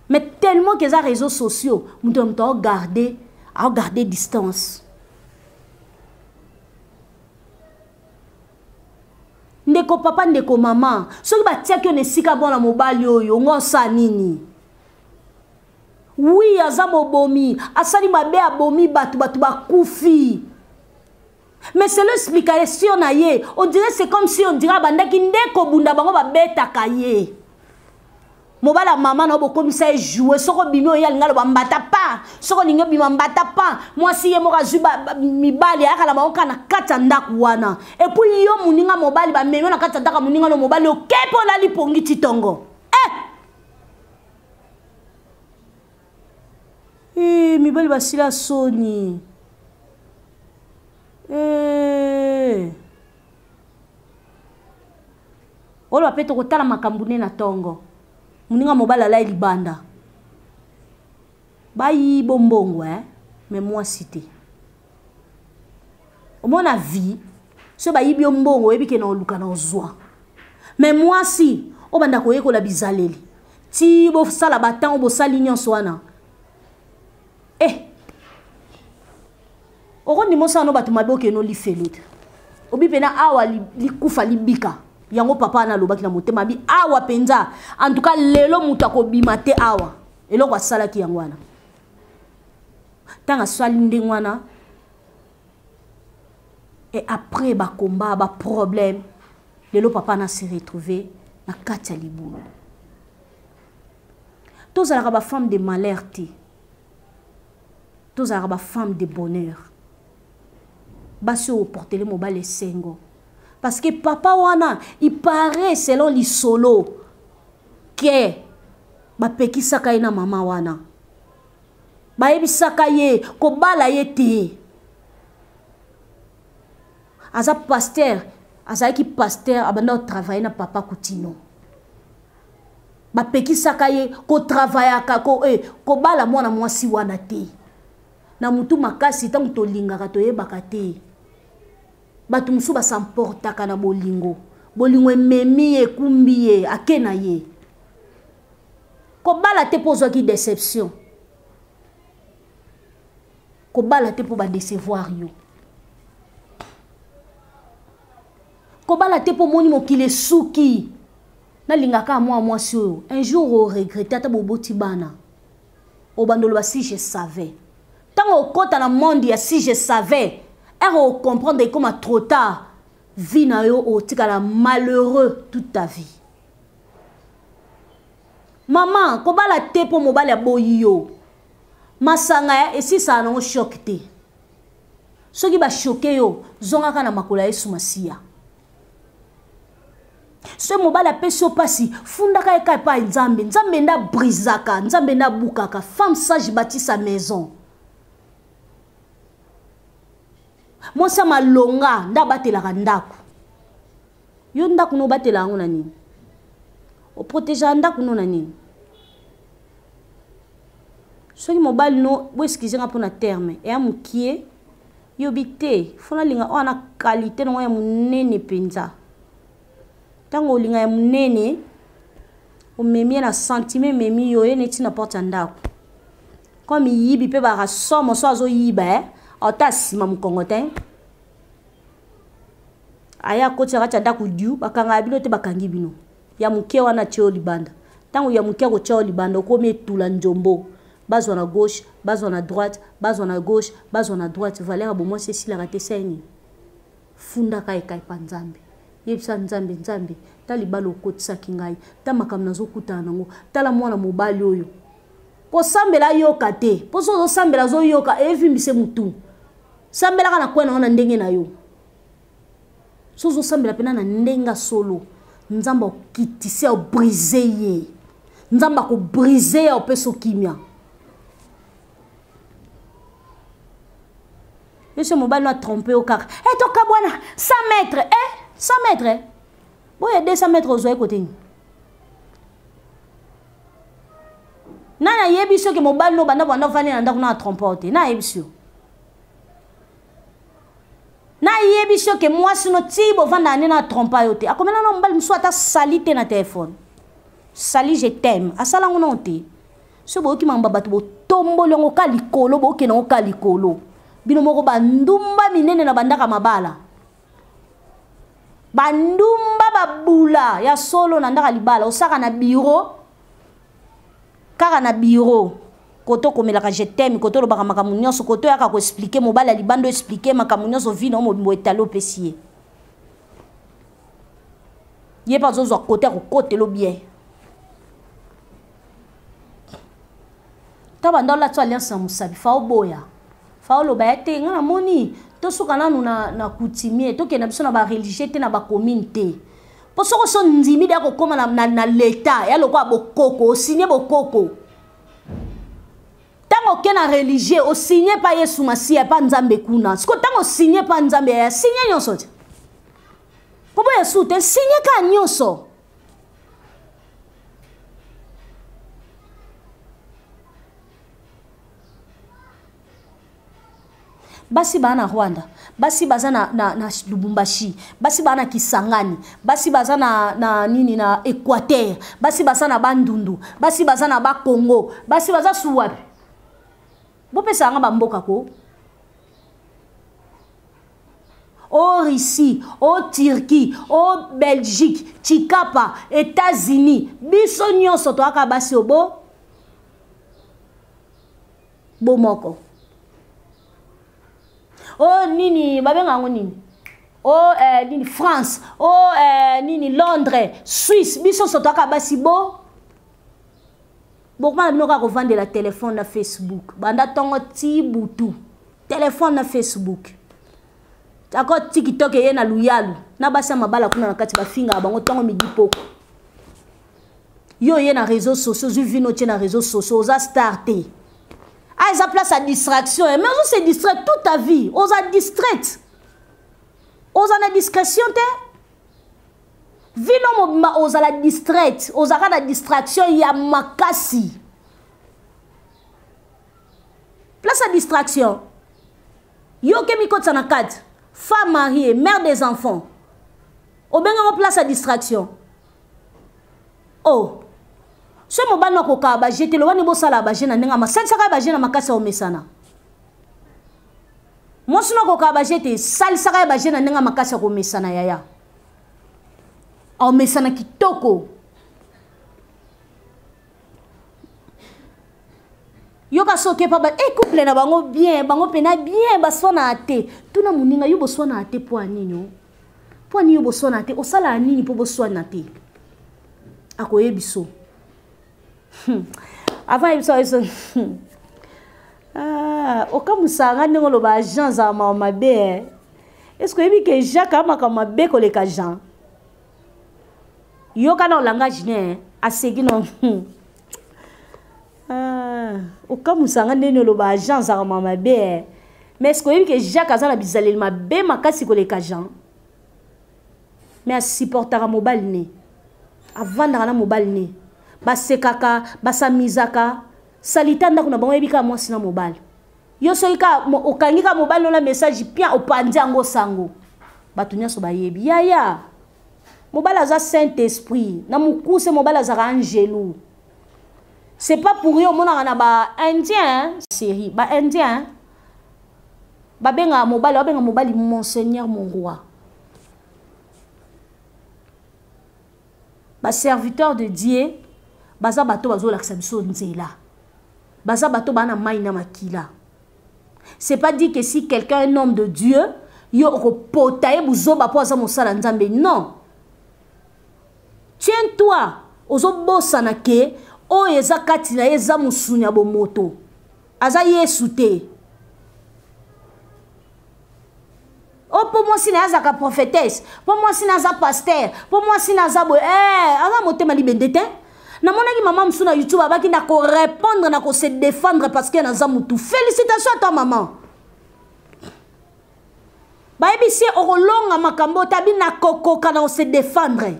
mais tellement que eza réseau sociaux moto na moto aogarde aogarde distance ndeko papa ndeko mama soki batiaki yo na esika mwana mobali oyo ngo osa nini Oui, aza mobomi, asali mabe abomi batu batu bakufi. Mais c'est l'explication na ye. On dirait c'est comme si on dirait bandaki nde kobunda bango babetaka ye. mobala mama na yo bokomisa ye joue soko bimi oye alinga loba mbata pa soko olingi obima mbata pa mwasi ye moko azwi mibali ayaka na bango kaka na kati ya ndako wana epuis yo moninga mobali bamemi yo na kati ya ndako ya moninga no mobali oke mpo olali pongi titongo Hey, eh, mibali basila soni hey. Eh. oloba mpe tokotala makambo ne na ntongo moninga mobali alai libanda bayibo mbongo eh? me mwasi te omona vie so bayibi yo mbongo oyebi ke na oluka na ozwa me mwasi obanda koyekola bizaleli ti bosala batango bosali nyonso wana e eh. okondima osala no bato mabe okeno lifelo te obi mpena awa likufa libika yango papa wana alobaki na motema abi awa mpenza antuka lelo moto akobima te awa eloko asalaki yango wana ntango asali ndenge wana et après bacombat baproblème lelo papa na se retrouve na kati ya libulu tozalaka bafemme de malheur te tozalaka bafemme de bonheur basi oyo oportele mobali esengo parce que papa wana il paraît selon lisolo ke bapekisaka ye na mama wana bayebisaka ye kobala ye te aza paster azalaki paster abanda kotravaille na papa kutino bapekisaka ye kotravayaka ko, eh, kobala mwana mwasi wana te na motu makasi ntango tolingaka toyebaka te bato mosusu basamportaka na bolingo bolingo ememi ye ekumbi ye ake na ye kobala te mpo ozwaki deception kobala te mpo badecevoir yo kobala te mpo omoni mokili esuki nalingaka mwa mwasi oyo un jour oregrete ata boboti bana obanda oloba si je savais ntango okota na monde ya si je savais ere ocomprendre ekoma trop tard vie na yo otikala malheureux toute ta vie mama kobala te mpo mobali aboyi yo masanga ya esisaka nango shok te soki bashoke yo zongaka na makolo ya yesu masiya soki mobali apesi yo mpasi fundaka ye kaka epai nzambe nzambe nde abrisaka nzambe nde abukaka femme sage bati sa maison mwasi ya malonga nde abatelaka ndako yo ndako no obatela yango na nini oprotegeaka ndako no na nini soki mobali no boeskize nga mpo na terme eya mokie yobi te fo nalinga oyo na kalite nango ya monene mpenza ntango olinga ya monene omemi ye na sentime ememi yo ye neti na porte ya ndako koma miyibi mpe baka somo so azoyiba e eh? ata asima mokongo te aya akoti na kati ya ndako diu bakangaka bino te bakangi bino ya moke wana atye yo libanda ntango ya moke akotya yo libanda okomi etula njombo bazwa na gauche bazwa na droite bazwa na gauche bazwa na droite valeur ya bomwasi esilaka te sai nini fundaka ekai pa nzambe yebisa nzambe nzambe ta libala okotisaki ngai ta makambo nazokutana nango tala mwana mobali oyo kosambela ayoka te mpo so ozosambela azoyoka evimbise motu sambelaka na kwena wana ndenge na yo so ozosambela mpena na ndenge ya solo nzambe akitisi ao brise ye nzambe akobrise ye aopesa okimia biso mobali no atrompe yo kaka e eh, tokabwana 100 mètre e eh, 100 mètre eh. boye 200 mètre ozwai kote nini nani ayebisi yo ke mobali no banda banda ofandi na ndako na atrompe yo te na ayebisi yo nayebisi yo ke mwasi no tii bovanda ane na trompa yo te akomela na mobali mosusu ata sali te na telefone sali je teme asala ngo nao te so boyoki mamba bato botomboli yango ka likolo bokende yango ka likolo bino moko bandumba minene na bandaka mabala bandumba babula ya solo na ndaka libala osaka na biro kaka na bureau koto komelaka je t'aime koto olobaka makambo nyonso koto oyaka koexplike mobali ya libanda oexplike makambo nyonso vi na yo mobimbo etali opesi ye ye mpe azozwa kote ya kokotelo bien ta banda olatso alliance na mosabi fa oboya fao loba ya te ngai namoni tosuka nanu na, na coutumier tokenda biso na bareligieux te na bacommune te mpo soko so ndimi de akokóma na, na, na leta ya lokola bokoko osigne bokoko ntango oke na religieux osigne mpa yesu masiya mpa nzambe kuna siko ntango osigne mpa nzambe yaya signe nyonso te mpo boya su te signe kaka nyonso basi baa na rwanda basi baza na, na, na lubumbashi basi baa na kisangani basi baza na, na nini na équateur basi baza na bandundu basi baza na bakongo basi baza su wapi bopesa yanga bamboka ko o russie o turquie o belgique chikapa états-unis biso nyonso toyaka basi obo bomoko o oh, nini babenga yango nini o oh, eh, nini france o oh, eh, nini londres suisse biso sotaka basi bo bokoma na bino kaka kovandela telefone na facebook banda ntongo ti butu telefone na facebook ako tikitoke ye na luyalu na basi ya mabala kuna na kati bafingaka bango ntongo midi poko yo oye na réseau sociaux ozwi vino otie na réseau sociaux oza star te ah eza place ya distraction eh, mais ozo se distraire toute ta vie oza distraite oza na discrétion te vino mobimba ozala distraite ozalaka na distraction ya makasi place ya distraction yo okemi kotisa na kati femme mariée mère des enfants obengango place ya distraction oh soki mobali nakokaa baje te loba nde bosalaka baje na ndenge masalisaka baje na makasi ya omesana mwasi nakokaa baje te salisaka ye baje na ndenge makasi ya komesana yaya aomesana kitoko yoka soki epa e eh, couple na bango bien bango mpena bien baswanaa te tuna moninga yo boswanaa te mpo ya nini oh? mpo ya nini yo boswanaa te osalaka nini mpo boswana te akoyebiso hmm. avant ayebisa yeso hmm. ah, okamusaa nga ndenge oloba agent azala mawa mabe eh? est ce que oyebi ke jacques amakambo mabe koleka jean yoka na olangage ne eh. aseki no ah, okamusa nga ndeni oloba jean azaka ma mabe eh. mais ce koyebi ke jacques aza na bizaleli mabe makasi koleka jean mais asupportaka mobali ne avandaka na mobali ne basekaka basamizaka salita ndako na bango yebi kaka mwasi na mobali yo soki kaka okangi kaka mobali ona message pia opanzi yango sango bato nyonso bayebi yaya mobali aza saint esprit na mokuse mobali azalaka angelu c'est pas pour yo omonaka na baindien série baindien babengaka mobali babenga mobali monseigneur mon roi ba serviteur de dieu baza bato bazolakisa biso nzela baza bato baa na mai na makila c'est pas dit que si quelqu'un un homme de dieu yo okopota ye buzoba mpo aza mosala nzambe non tiens toi ozobosana ke oyo eza kati na ye eza mosuni ya bomoto aza yesu te o oh, mpo mwasi na ye azalaka prophetese mpo mwasi na aza paster mpo mwasi na aza boye ee eh, aza motema libende te namonaki mama mosusu na youtube abaki na korepondre na kose defendre parce que naza motu félicitation à toi maman bayebisi ye okolonga makambo otabi na kokoka na kose defendre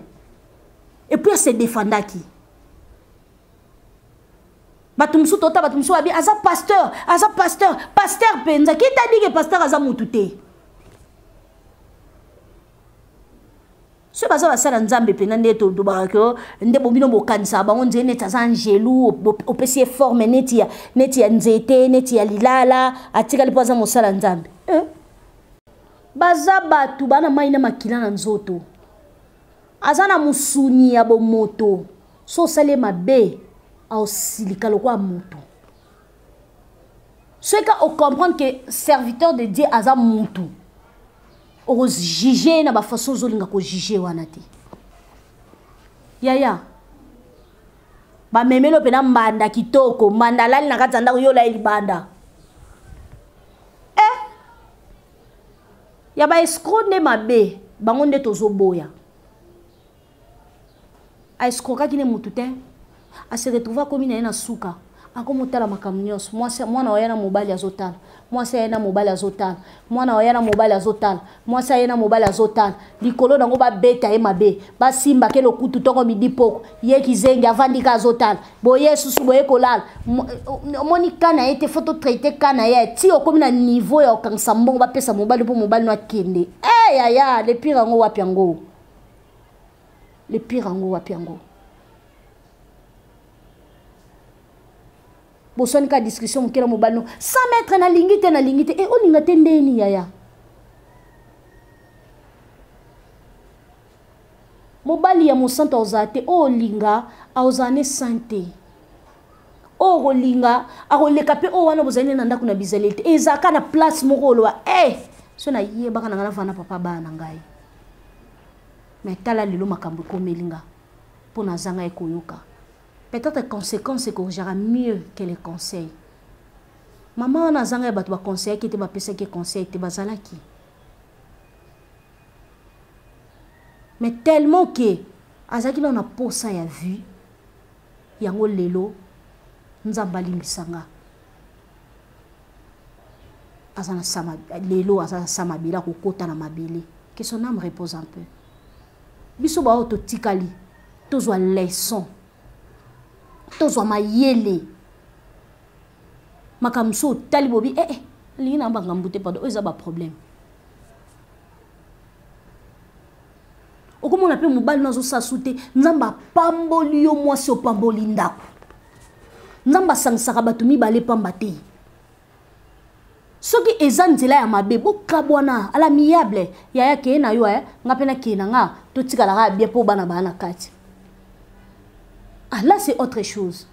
epuis ase defendaki bato mosusu tota bato mosusu babi aza pasteur aza pasteur pasteur mpenza kita dike pasteur aza motu te soki baza basala nzambe mpenza nde tolobaka ke oh, nde bobino bokanisaka bango nzete neti aza angelu opesi ye forme neti ya, neti ya nzete neti ya lilala atikali mpo aza mosala nzambe eh? baza bato bana mai na makila na nzoto aza na mosuni ya bomoto so osali ye mabe aosilika lokola moto soki ka ocomprendre ke serviteur de dieu aza motu okojuge ye na bafaçon ozolinga kojuge wana te yaya bamemeli mpena mbanda kitoko mbanda alali na kati ya ndako yo olai libanda e eh! ya baescro nde mabe bango nde tozoboya a escrokaki ne motu te a se retrouva akomi na ye na suka akomi otala makambo nyonso mwana oya na mobali azotala mwasi aye na mobali azotala mwana oya na mobali azotala mwasi aye na mobali azotala likolo nango babeta ye mabe basimba ke lokutu ntoko midi poko ye kizengi avandi ka azotala boye susu boye kolala omoni ka na ye te fo totraite ka na ye ti okomi na niveau ya kokangisa mbongo bapesa mobali mpo mobali no akende e eh, yaya lepire yango wapi yango le pire yango wapi yango boswani kaka discussion moke na mobali no sans mètre nalingi te nalingi te e olinga te ndeni yaya mobali ya mosantu akozala te oyo olinga akozala ne san te oyo okolinga akoleka mpe oyo wana bozali ne na ndako na bizaleli te ezalaka na place moko oloba e eh, so nayebaka na ngai navana papa bana na ngai mais tala lelo makambo ekomeli nga mpo nazanga ekoyoka peut-être conséquence ekorjaka mieux que le conseil mama wana azanga ya bato baconseillaki te bapesaki conseil te bazalaki mais tellement ke azalaki nao na posa ya vue yango lelo nzambe alimbisa nga aza na sama lelo aza na sa mabele akokota na mabele que son âme repose un peu biso baoyo totikali tozwa leçon tozwa mayele makambo so otali bobi ee eh, eh, alingi na bangambu te pardon oyo eza baproblème okomona mpe mobali no azosala su te nzambe apamboli yo mwasi opamboli ndako nzambe asangisaka bato mibale pamba te soki eza nzela ya mabe bokabwana ala miable yaya keye na yo eh? nga mpe nakeye na nga totikalaka ya bia mpo bana baa na kati ah là c'est autre chose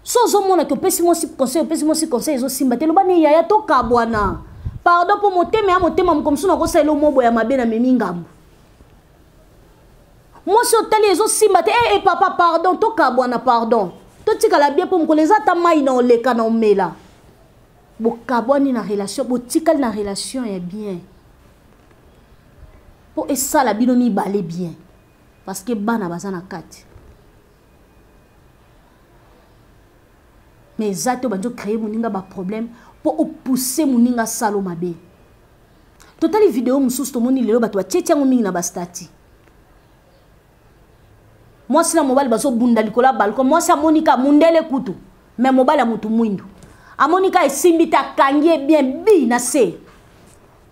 so ozomona ke opesi mwasi conseil opesi mwasi conseil ezosimba te loba ne yaya tokabwana pardon mpo motema ya motema moko mosusu nakosalela omobo ya mabe na memi ngambo mwasi otali ezosimba te ee eh, eh, papa pardon tokabwana pardon totikala bie mpo mokolo eza ata mai na oleka na omela bokabwani na relation botikali na relation ya bien mpo esala bino mibale bien parce que bana baza na kati mais eza te obandi ocreye moninga baproblème mpo opousse moninga asalo mabe totali video mosusu tomoni lelo bato batieti yango mingi na bastati mwasi na mobali bazobunda likolo ya balko mwasi amoni ka mundele kutu me mobali ya motu mwindu amoni ka esimbi te akangi ye bien bi na se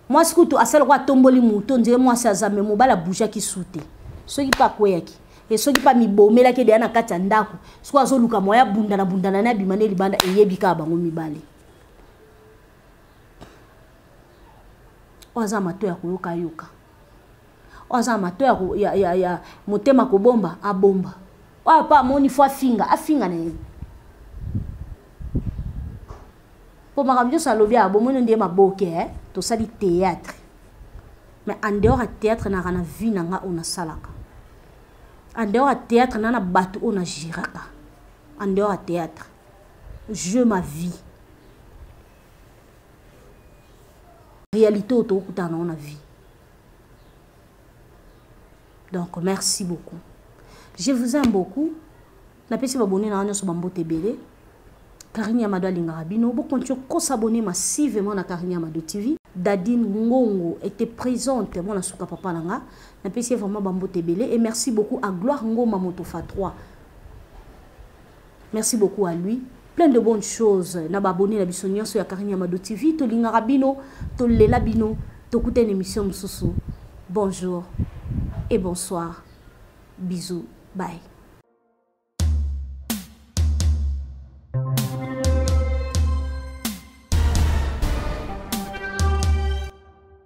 mwasi kutu asala lokola atomboli moto ondire mwasi aza me mobali abujaki su te soki mpe akweyaki e soki mpe amibomelaki edeya na kati ya ndako soki azoluka moya abundana bundana ne abima ne libanda eyebi kaka bango mibale oyo aza mato ya koyokayoka oyo aza na mato ya, ya, ya, ya motema kobomba abomba oyo apa amoni fo afinga afinga na ye mpo makambo nyonso alobi awa bomoni nde maboke eh? tosali théâtre mais en dehors ya théâtre naka na vie na nga oyo nasalaka en dehors ya théâtre na na bato oyo na giraka en dehors ya théâtre je ma vie réalité oyo tokokutana nango na vie donc merci beaucoup je vous aime beaucoup napesi babone na nga nyonso bambote ebele karine yamado alingaka bino bokonti okosa abone massivement na karine yamado tv dadine ngongo était présente mwana suka papa na nga napesi ye vraiment bambote ebele et merci beaucoup à gloire ngoma motofa 3 Merci beaucoup à lui. Plein de bonnes choses. Na ba abonné na biso nyoso ya Karine Yamado TV. To linga rabino, to lela bino, to kuta une émission mususu. Bonjour et bonsoir. Bisous. Bye.